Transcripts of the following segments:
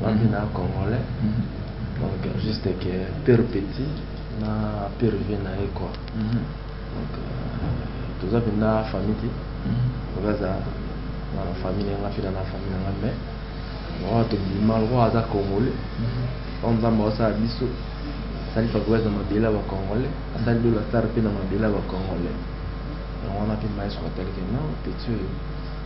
Ngai na congolais donc juste que pire petit na pire vie na ye quoi donc toza mpenza famille te oyo aza na famille na nga mpe na famille na nga mais oyo tobima lokola aza congolais oyo nzambe aosala biso asali fabrice na mabele ya bacongolais asali lola star mpe na mabele ya bacongolais yango wana mpe maestro atalike no petit oyo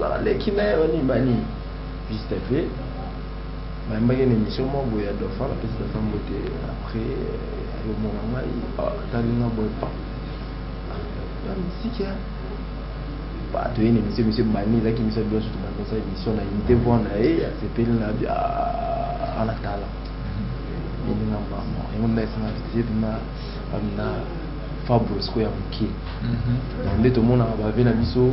baleki naye ba nini ba nini fils de fe bayambaki na emission moko boye ya dauphin napesi dauphin mbote après ayomona ngai atali nga boye pa ya misiki ya bato ye na emission emission ebandi ezaki emission ya biso tobandi osala emission na unité voix na ye asepeli na bia ana tala eninga mama yango nda esanga visite na na fabros ko ya moke nde tomonaka bave na biso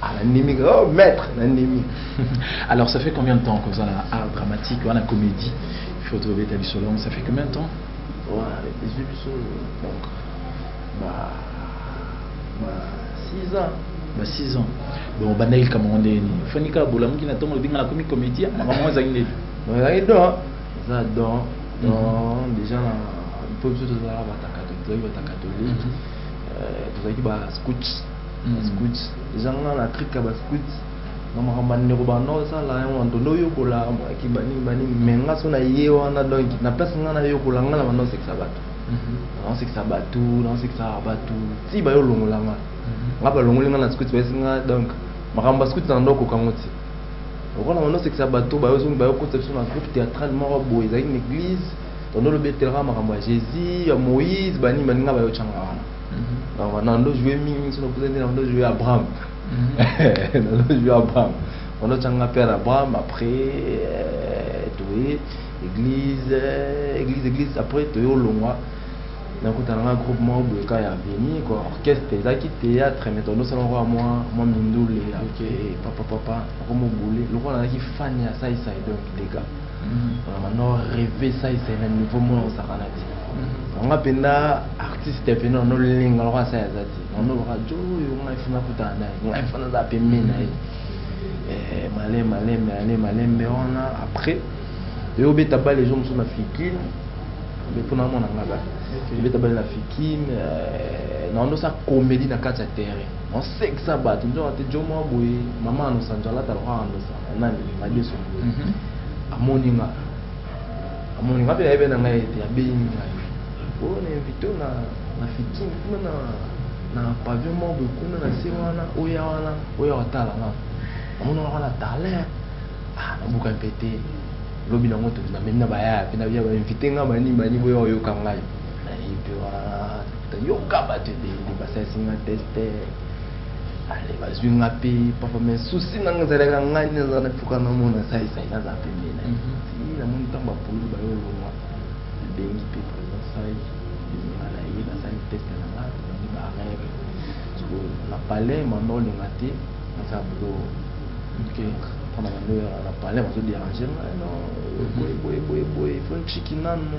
Ah, nandimi oh, maître nandimi alors ça fait combien de temps koza na art dramatique wana comédie il faut tobeta biso longue ça fait combien de temps ezwi biso donc ba 6 ans ba 6 ans bon obandaki likambo yango ndenge nini fani kaka bolamuki na ntongo ebinga nakomi comédien makambo yango ezalaki ndeni ezalaki don eza don don déjà na mpo biso tozalaka batakatoliki tozalaki batakatoliki tozalaki ba scouts ba scout eza nga na trick ya ba scout na makambo ya ndeko banda osala yango nto nde oyokola maki banini banini me nga so na ye wana donc na place nga nayokola nga na banda osekisa bato naosekisa bato naosekisaka bato ti bayo olongola nga nga balongoli nga na scout bayesi nga donc makambo ya scout na ndo okoka ngo ti lokola banda osekisa bato bayokotisa biso na groupe théâtrale moko boye ezalaki na église tondo olobi etelaka makambo ya jésus ya moïse banini baninga bayotyanga wana donc wana ndo joue mingi soki nakuta nde ndo joue abraham ndo joue abraham wana otyanga mpe na abraham après euh, toye église euh, église église après toye olongwa nakutana nga groupe moko boye ka ya veni ko orchestre ezalaki théâtre mais tondosala moko ya mwa mwa mindule papa papa nakomobule lokola nazalaki fan ya saisai donc dega no reve sa ezali na niveau mona ozalaka na ti nanga mpenza artiste ya pene ono linga loko asa yaza ti ono loka jo oyo ngai funa kutana naye ngai fana aza pembe na ye eh, malembe malembe ale malembe wana après eyobeta bale ezo mosusu na fikine mpo namona ngai bale ebeta bale na fikine eh, naonosa komedi na kati ya terrain Osekisa batu nzoka te djo mwa boye maman anosa njo alata lokola anosa nani madesu amoni nga amoni nga pe ayebi na ngai ete abeyi ngai oyo na invite na na fitin kuna na na pavillon mwa boye kuna na se wana oya wana oya otala nga amoni nga wana talent ah nabuka mpe te lobi nango tokina memi na bayaya mpe na biya ba invite nga bani bani boya oyoka ngai nayebi wana toyoka bato ebele basalisi nga teste ale bazwi nga mpe papa me susi nanga ezalaka ngai nde naza na mpoka namona saisai naza pembe na ye mhm. namoni ntango bapoli bayo olongwa nabengi mpe président sai nga na ye nasali teste na nga tolangi barere soko na palais mama olinga te naza bulo mpona mandoya na palais bazoderange nga no boye boye boye boye fo nchiki nanu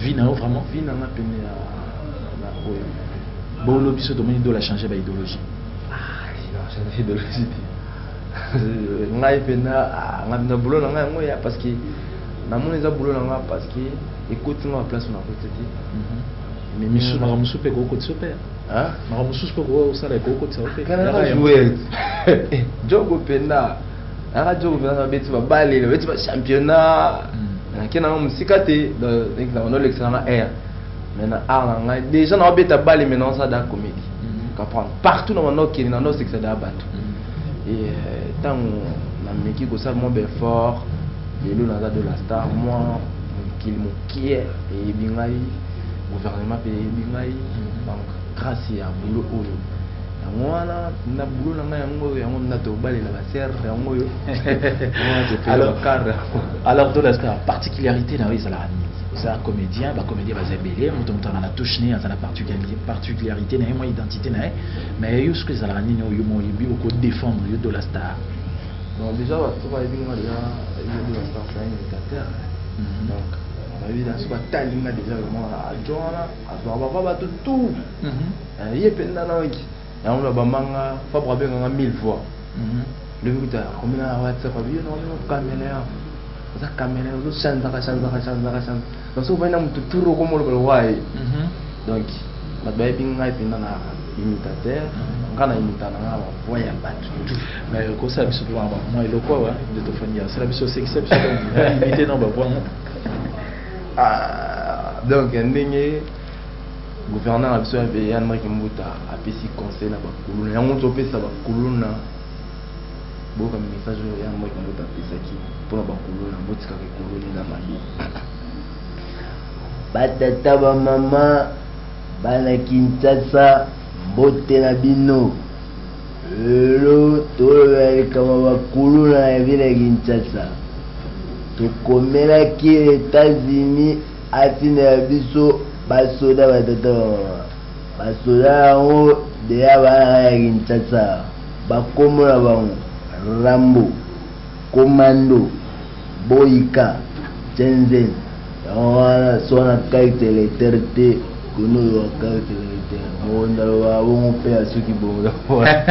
vie na yo vraiment vie na nga pene ya na oyo bolo biso tomoni dola change ba idéologie change idéologie te ngai mpena ngai mpena boulot na ngai yango ya parce que namoni eza boulot na ngai parce que ekoti ngai baplace na koti te mais misu makambo mosusu mpe kokotisa mpe makambo mosusu mpe kosala ekokotisa mpe jogo mpena naka djo ko venaka beti ba bale beti ba championnat hmm. nake nanga musika te donc na kono lekisa nanga air mais na art na ngai déjà na beta bale mais na sa da comédie hmm. comprendre partout na mano kende na no sekisa da bato hmm. et euh, tango na meki ko sala mon effort lelo naza de la star moi mokili mokie eyebi ngai gouvernement mpe eyebi ngai donc grâce ya boulot oyo yango wana na boulot na ngai yango oyo yango na tobalela ba sœur yango oyo alors alors to la star particularité na yo ezalaka nini oza comédien ba comédien baza ebele moto moto azala na touche ne azala particularité na ye mwa identité na ye mais yo soki ezalaka nini oyo mo oyebi oko défendre yo to la star bon déjà bato bayebi nga déjà yo to la star c'est un imitateur mhm. donc bayebi na soki atali nga déjà vraiment adjoint wana azwaka bava bato tout mhm. Eh, ye pe nana oki yango na bamanga fabre abenganga mille fois mhm. lobi kuta komina na whatsapp abi yo naomino caméléon oza caméléon ozo chanzaka chanzaka chanzaka chanza donc soki obandi na motu tour okoma olobela waye mhm. donc bato bayebi ngai mpenza na imitateur mhm. ngai na imita na ngai bavoi ya bato mais okosala biso mpe mwa eloko awa nde tofandi asala biso osekisa biso imite na bavoi ah, donc ndenge Gouverneur na biso ya veye Anne Marie Kimbuta apesi conseil na bakuluna yango topesa bakuluna boyoka message oyo Anne Marie Kimbuta apesaki mpo na bakuluna botikaka ekuluni na mabe batata bamama bana Kinshasa mbote na bino lelo toloba likambo bakuluna ya vile ya Kinshasa tokomelaki Etats-Unis Atina ya biso ba soda ba tata ba mama ba soda yango deya bayaka ya Kinshasa ba kombo na bango Rambo, Commando, Boyka, Chenzen yango wana soki na carte electeur te Gono oyo wa carte hereditaire mokonzi aloba bongo mpe ya soki bongo na mwana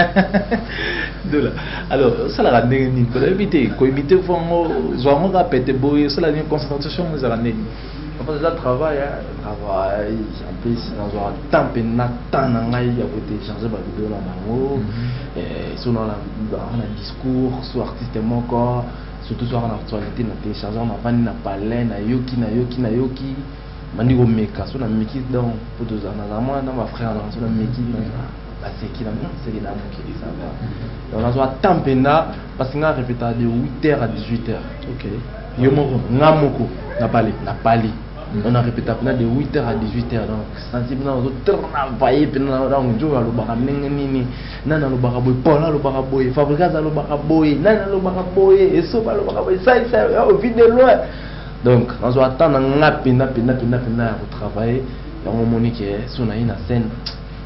dola alors osalaka ndenge nini mpo nayebi te koimite fo yango zwa yango kaka pete boye osala nini concentration yango ezalaka ndenge nini Après ça, travail, hein, travail, en plus, dans un temps, puis na temps, na ngai, il y a côté changer ma vidéo là, nango, mhm. et sur dans la, dans un discours, sur artiste mon corps, surtout sur l'actualité, na télécharger, na vani, na palais, na yoki, na yoki, na yoki, bandi komeka so nameki donc mpo tozala nazala mwana na bafrère nanga so nameki baseki na mwa seki na mokili ça va donc nazwa temps mpenza parce que nga repeta de 8 heures à 18 heures ok yo moko nga moko na pali na pali on a répété pena de 8h à 18h donc santi pena ozo travaille pena donc nzoyo alobaka ndenge nini nani alobaka boye paul alobaka boye fabrigas alobaka boye nani alobaka boye esoba alobaka boye saisa ovide loin donc nazwa temps na nga pena pena pena pena ya kotravaille yango omoni ke so naye na scène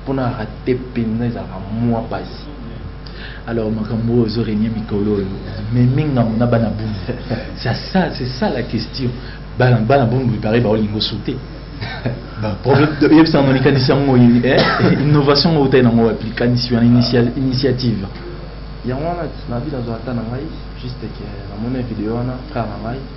mpo na rate pena ezalaka mwa pasi alors makambo oyo ezo renie mikolo oyo meme ngambo na bana bundu c'est ça la question bana bana bundu epare baolinga osute yebisa yango likanisi yango eh, innovation oyo otai nango wapi likanisi wana initiative yango wana na vie nazwa ata na ngai juste ke namoni video wana frère na ngai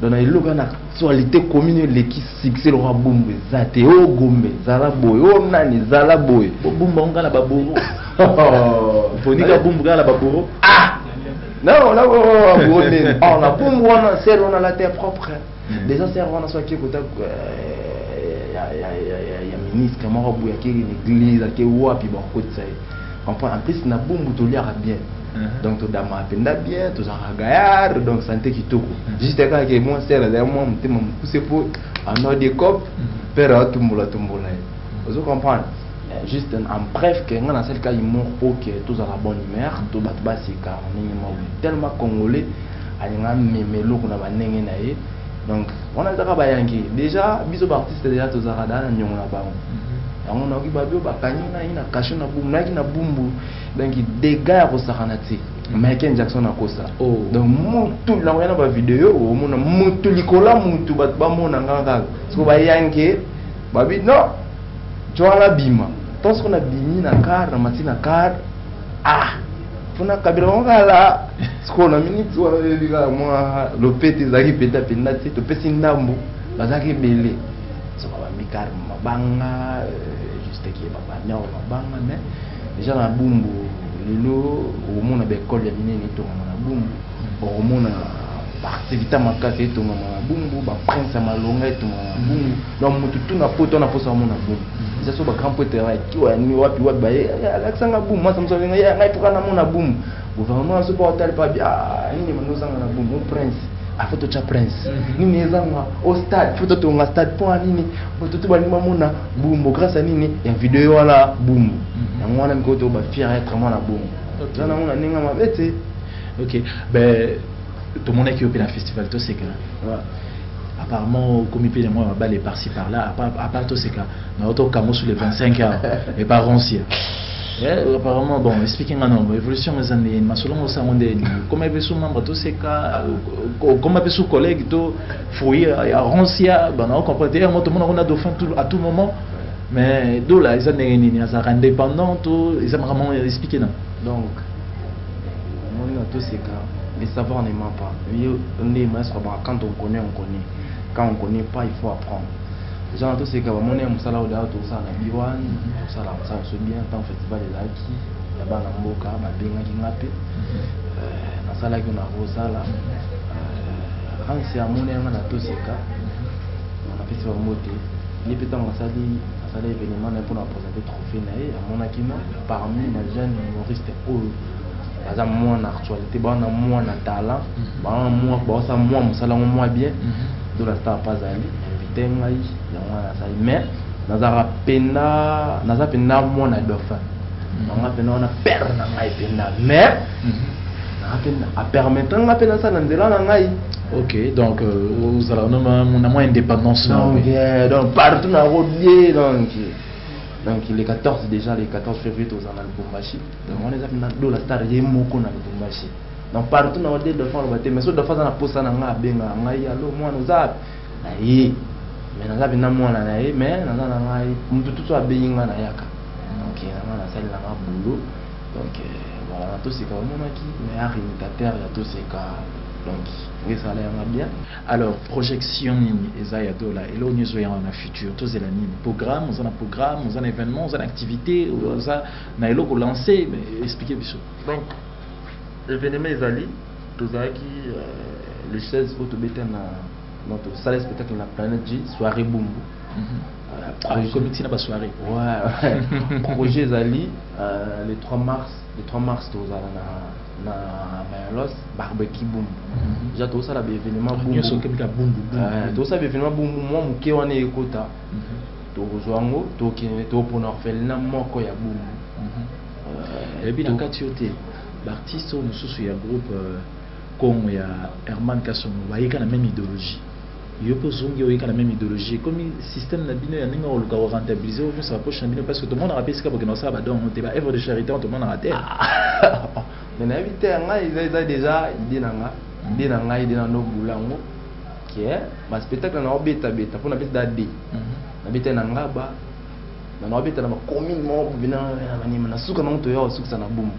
donc na eloko na actualité commune eleki succès lokola bumbu eza te o oh, gombe zala boye o oh, nani zala boye bobumba onga na baboro ponika bumbu kaka na baboro ah non na baboro nini or oh, na bumbu wana sel wana la terre propre hmm. déjà sel wana so akie kota ya ministre moko boye akei na église ake wapi bakotisa ye comprends en plus na bumbu toliaka bien mhm. donc todamaka mpenza bien tozalaka gayard donc sante kitoko mhm. juste kaka ke mon sel azali mwa motema mokuse mpo anor de cop pere atumbola tumbola ye ozo comprendre eh, juste en bref ke ngai nasali ka humour mpo ke tozala bonne humeur to bato baseka ndenge moko tellement congolais alinga meme eloko na bandenge na ye donc wana ezaka bayangi déjà biso baartiste déjà tozalaka daa na niongo na bango Yango nayoki babi oyo bakangi ngai na kasho na bumbu nayaki na bumbu donc dega ya kosakana te mm. michael jackson akosa oh. donc mutu nakoya na bavideo omona mutu likolo ya mutu bato bamona nga kaka soko bayange babi no cwana bima to soko nabimi na kar na mati na kar ah mpona kabila bango kala sikoyo na miniti wana oyebi kaka mwa lopete ezalaki mpenza mpenza te topesi ndambo bazalaki ebele Zoba ba mikar mabanga euh, juste ki ba banyao mabanga mais déjà na bumbu lelo omona ba école ya minene etongama na bumbu omona ba activité makasi etongama na bumbu ba prince ya malonga etongama na bumbu donc motu tu na poto na posa omona bumbu eza so ba grand poete ya kiwa wapi wapi baye alakisanga bumbu masa mosalinga ye ngai toka namona bumbu Gouvernement azo ba otali pa bia ah, nini mano zanga na bumu prince afo to cha prince mhm. nini ezanga au stade faut to nga stade point nini bato to balingi bamona bumbo grâce à nini ya video wana bumbo mhm. yango wana mikoto ba fier être mwana bumbo eza nango na ndenge mabe te ok ben tomonaki yo mpe na festival toseka apparemment okomi mpe na mwa babale par ci par là apart toseka na oto okango sur le 25 heures epa ronsia eh, apparemment bon explique nga nombo évolution eza nde masolo ngo sango nde okoma mpe su membre toseka okoma mpe su collègue to fruit ya ronsia bana ocomprendre te yango tomona ngo na dauphin à tout moment mais dola eza ndenge nini azalaka indépendant to eza makambo explique na donc Omoni na toseka le savoir ne ment pas yo nde maestro ya ba quand on connait on connait quand on connait pas il faut apprendre dejà na toseka ba moni ya musala oyo d'ailleurs tosala na B1 tosala musala so bien tant festival ezalaki ya bana mboka ba bengaki nga pe euh, nasalaki na Rosala euh, Hans ya moni yanga na toseka na pesi ba mbote ye pe tango asali asali evenement na ye pona mpe trophee na ye amonaki na parmi ba jeune humoriste oyo baza mwa na actualité baza na mwa na talent mhm. baza mwa baosa mwa mosala yango mwa bien mhm. dola star mpe azali invité ngai yango wana asali mais nazalaka mpenda naza mpenda mwa na dauphin nanga mpenda wana pere na ngai mpenda mais apermettre nga mpe nasala nzela na ngai ok donc ozalaka euh, na mwa indépendance donc partout na rolie donc donc le 14 déjà le 14 février tozala na lubumbashi donc wana eza mpena dola star ye moko na lubumbashi donc partout na ode dauphin aloba te mais so dauphin aza na posa na ngai abenga ngai alo mwana oza ape na ye mais naza mpena mwana na ye mais naza na ngai motu tutu abengi ngai nayaka donc na ngai nasali na ngai bulo donc voilà na toseka omonaki mais arimitateur ya toseka donc ngesala yanga bien Alors projection nini eza ya dola eloko nini ezoya wana na futur tozela nini programme oza na programme oza na événement oza na activité oza na eloko lance expliquer biso donc événement ezali tozalaki euh, le 16 oyo tobeta na notre salle spectacle na planète g soirée bumbu mm -hmm. Euh, ah, comité na basoirée ouais, projet ezali euh, le 3 mars le 3 mars tozala na na Mayalos barbecue boum mhm. déjà tozosala ba événement boum nyonso okebika boum boum euh, tozosala ba événement boum boum mwa moke wana ekota mhm. tokozwa yango tokende topona orphelina moko ya boum mhm. euh, eyebi na kati yo te baartiste oyo mosusu ya groupe euh, congo ya herman kasongo bayika na meme idéologie Yo pe ozongi oye ka na meme ideologie ekomi systeme na bino ya ndenge ya koluka ko rentabiliser oyo nionso ba poche na bino parce que tomonaka pe esika bokenda kosala ba don yango te ba oeuvre de charite yango tomonaka te. Mais nayebi te ngai eza eza dejà idee na nga idee na ngai de na no bula yango que ba spectacle na obeta beta pona beta da de na beta na ngaba na na obeta na ba commune mo bina na manima na suka na moto ya osukisa na bumbu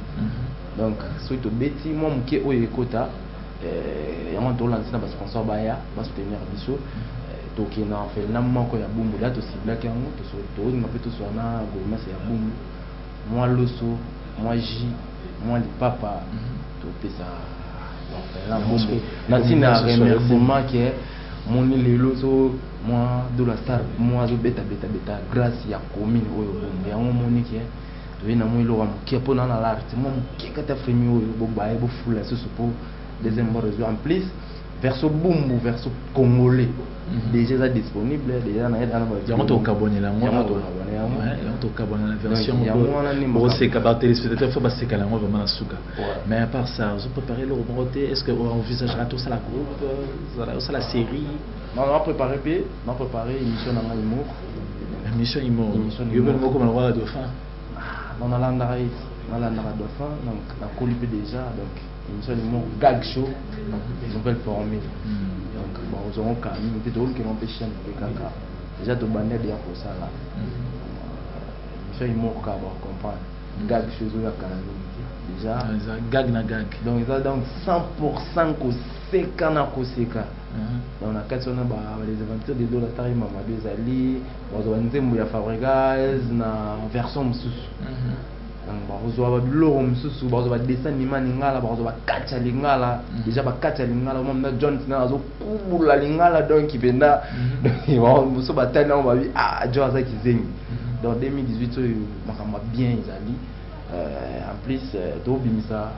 donc soki tobeti mwa moke oyo ekota Eh, yango tolanzi na basponsor baya basoutenir biso eh, tokende na orphelina moko ya bumbu da tosiblaki yango tolinga mpe toswa na gouvernance ya bumbu mwa loso mwa ji mwa lipapa mhm. topesa orphelina bumbu na ntina ya remerciement ke moni lelo so mwa dola star mwa azobetabeta beta grace ya commune oyo bumbu yango moni ke toye na mwa eloko ya moke mpo na na larte mwa moke kati ya fremi oyo bobaye bofula susu mpo deuxième bord ezwa en plus verso bumbu verso congolais mhm. déjà eza disponible déjà na yeda na ba yango to kabonela yango yango to kabonela yango yango to kabonela version yango wana ni moko c'est ba téléspectateurs faut ba se kala yango vraiment na suka mais à part ça vous préparez le roboté est-ce que on envisagera tout ça la groupe ça la série Na na prepare pe na prepare emission na nga humour. Emission humour. Emission humour. Yo pe moko maloba la dauphin. Ah, na na landa ka ye. Na landa ka dauphin donc na koli pe déjà donc emission humour gag show nouvelle formule. Hmm. Donc ba ozongo ka mingi pe to luki non pe chaîne pe kaka. Déjà to bande ya ko sala. Hmm. Emission humour ka ba comprendre. Hmm. Gag show zo ya kala mingi. Déjà. Ah, gag na gag. Donc ça donc 100% ko seka na koseka donc na kati wana ba les aventures de dola tari mamado ezali bazwa nzembo ya fabregas na version mosusu donc bakozwa babiloko mosusu bakozwa badessin anima lingala bakozwa bakati ya lingala deja bakati ya lingala oma mna john tina azokubula lingala donc mpenza mosusu batali nango babi ah john aza kizengi donc 2018 oyo makambo ya bien ezali en plus tobimisa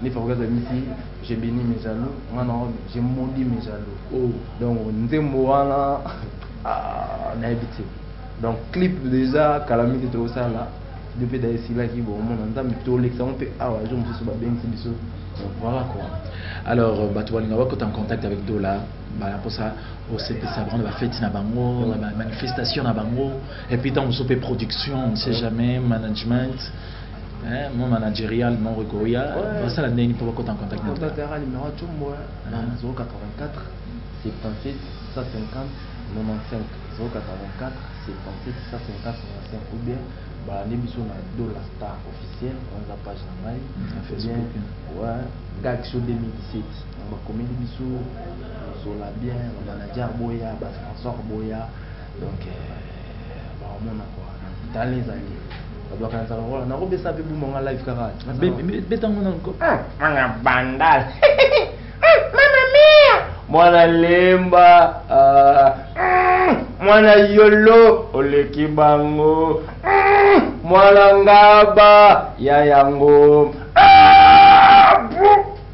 Nde Fabrice abimisi Je beni mes jaloux, nga na oyo Je maudit mes jaloux. Oh. Donc nzembo wana ah, nayebi te. Donc clip deja kala mingi tokosala depuis d'ailleurs silaki bomona nzambe tolekisa yango mpe awa jour mosusu babengisi biso donc voilà quoi alors euh, bato balinga bakota en contact avec dola bana mposa osepesa bango na bafeti na bango na bamanifestation na bango epuis ntango mosusu mpe production on ne sait jamais management Eh, mon managerial moko ekoya Ouais. basala ndenge nini mpo bakota en contact na bino? Contact yaka numéro ya Tshombo hein, na Ah. 084 77 150 95 084 77 150 95 ou bien balande biso na Dola Star officiel wana eza page na ngai Mm, na Ou Facebook, bien, hein. ouais, Gaxo 2017 donc bakomeli biso Zola bien ba manager boya ba sponsor boya donc euh, bakomona kwa tali ezali bakanisa lokola nakobesa mpe buma nga live kaka betango na loko ah, mwana bandal ah, mama mia mwana lemba ah, mm, mwana yolo oleki bango mm, mwana ngaba ya yango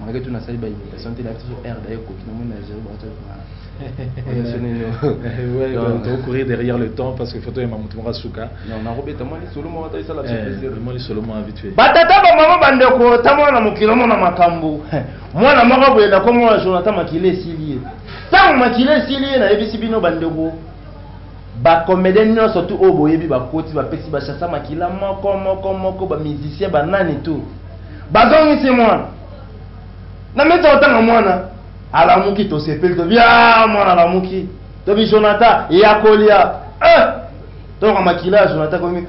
malgré tout nasali baimitation te nayebisa so r daye ekoki namoni na zero baotokourir derrière le temps parce que photo yema moto moko asuka nakobeta mwa lisolo moko ataisala mwa lisolo mwa vite fait batata bamama bandeko ta mwana na mokili omona makambo mwana moko boye nakomona jonathan makila esili ye ntango makila esili ye nayebisi bino bandeko Ba comedien nionso tout oyo boyebi ba koti ba pesi ba shasha makila moko moko moko ba musicien ba nani tout ba zongisi mwana na mesa otanga mwana alamuki tosepeli tobi ah mwana alamuki tobi Jonathan ya kolia eh toka makila ya Jonathan komi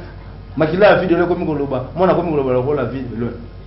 makila ya video ekomi koloba mwana akomi koloba lokola video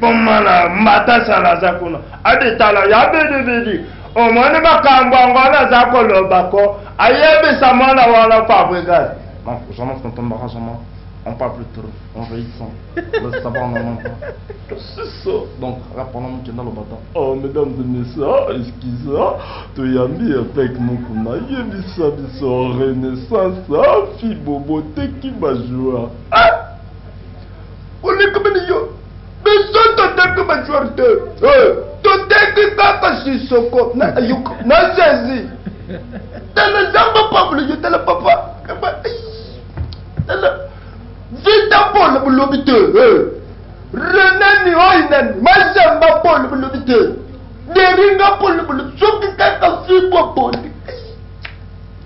Bomana mbata sala aza kuna ade tala ya bidi bidi omoni makambo yango wana aza koloba ko ayebisa mwana wana fabrigas donc oza na fontombaka zama on parle plus trop on veille son le savoir non non pas siso donc rapana mokenda lobata oh mesdames et messieurs oh, excuse oh, toyambi avec mokuna yebisa biso renaissance oh, fibobo teki ba joueur ah! olekabani yo biso toteki ba joueur te eh, toteki kaka sisoko na ayuka na sezi tala zamba pablo yo tala papa tala vita polo bolobi te eh. renani oyo nani mazamba polo bolobi te deringa polo bolobi soki kaka fibo poli